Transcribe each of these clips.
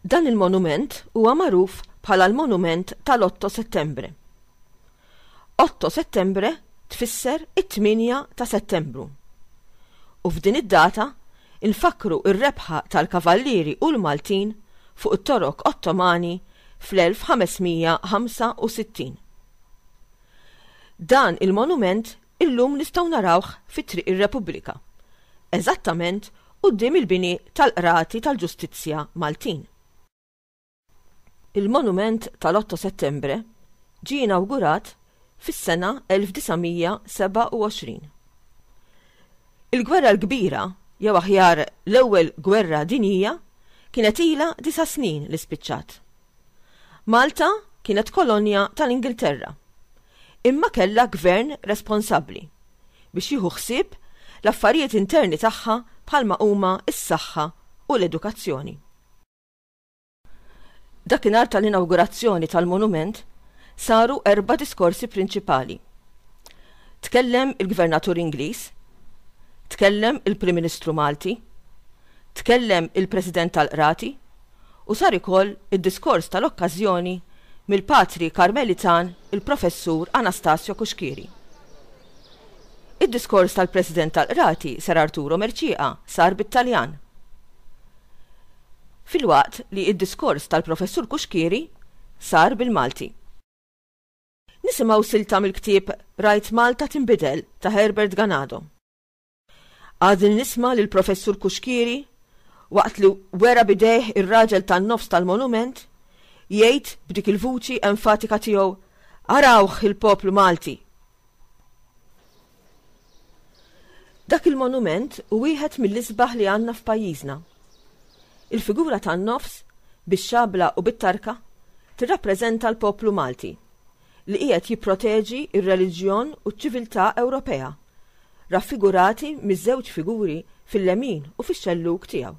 Dan il-monument huwa magħruf bħala l-monument tal-Otto Settembre. Otto Settembre tfisser it-8 ta' Settembru. U f'din id-data infakru r-rebħa tal-Kavallieri u l-Maltin fuq it-Torok Ottomani fl-1565. Dan il-monument illum nistgħu narawh fi Triq ir-Repubblika, eżattament quddiem il-bini tal-Qrati tal-Ġustizzja Maltin. Il-monument tal-Otto Settembre ġie inawgurat fis-sena 1927. Il-Gwerra l-Kbira, jew aħjar l-Ewwel Gwerra Dinjija, kienet ilha disa' snin li spiċċat. Malta kienet kolonja tal-Ingilterra, imma kellha Gvern responsabbli biex jieħu ħsieb l-affarijiet interni tagħha bħalma huma s-saħħa u l-edukazzjoni. Dakinhar tal-inawgurazzjoni tal-monument saru erba' diskorsi prinċipali. Tkellem il-Gvernatur Ingliż, tkellem il-Prim Ministru Malti, tkellem il-President tal-Qrati u sar ikoll id-diskors tal-okkażjoni mill-Patri Karmelitan il-Professur Anastasio Cuschieri. Id-diskors tal-President tal-Qrati Ser Arturo Mercieca sar bit-Taljan. Filwaqt li d-diskors tal-Professur Cuschieri sar bil-Malti. Nisimgħu silta mill-ktieb Rajt Malta Tinbidel ta' Herbert Ganado. Għadni nisma' lill-Professur Cuschieri waqt li wera b'idejh ir-raġel tan-nofs tal-monument jgħid b'dik il-vuċi enfatika tiegħu Arawh il-poplu Malti! Dak il-monument hu wieħed mill-isbaħ li għandna f'pajjiżna. Il-figura tan-nofs, bix-xabla u bit-tarka, tirrappreżenta l-poplu Malti, li qiegħed jipproteġi r-reliġjon u ċ-ċiviltà Ewropea, raffigurati miż-żewġ figuri fil-lemin u fix-xellug tiegħu.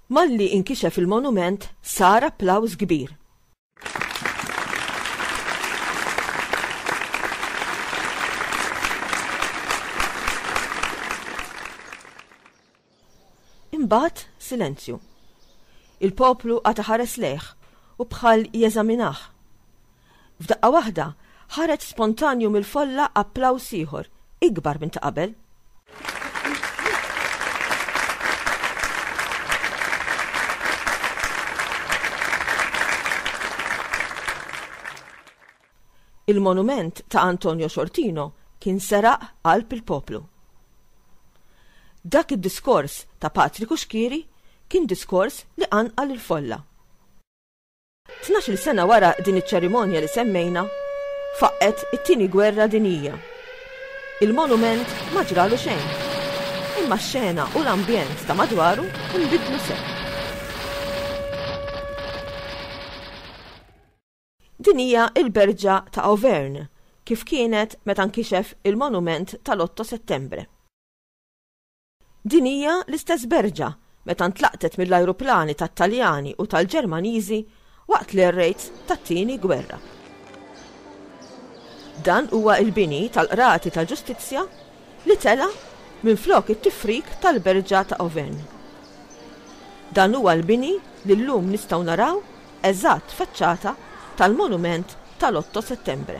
Malli inkixef il-monument sar applawż kbir. Imbagħad silenzju. Il-poplu għata ħares lejh u bħal jeżaminah. F'daqqa waħda Ħareġ spontanju mill-folla applaws ieħor, ikbar minn ta' qabel. Il-monument ta' Antonio Sortino kien seraq qalb il-poplu. Dak id-diskors ta' Patriku Xkieri kien diskors li qanqal il-folla. Tnax-il sena wara din iċ-ċerimonja li semmejna, faqqgħet it-Tieni Gwerra Dinjija. Il-monument ma ġralu xejn, imma x-xena u l-ambjent ta' madwaru nbidlu sew. Din hija l-berġa ta' Auvergne, kif kienet meta nkixef il-monument tal-Otto Settembre. Din hija l-istess Berġa meta ntlaqtet mill-ajruplani tat-Taljani u tal-Ġermaniżi waqt l-air raids tat-Tieni Gwerra. Dan huwa l-bini tal-Qrati tal-Ġustizzja li tela' minflok it-tifrik tal-Berġa ta' Auvergne. Dan huwa l-bini li llum nistgħu naraw eżatt faċċata tal-monument tal-Otto Settembre.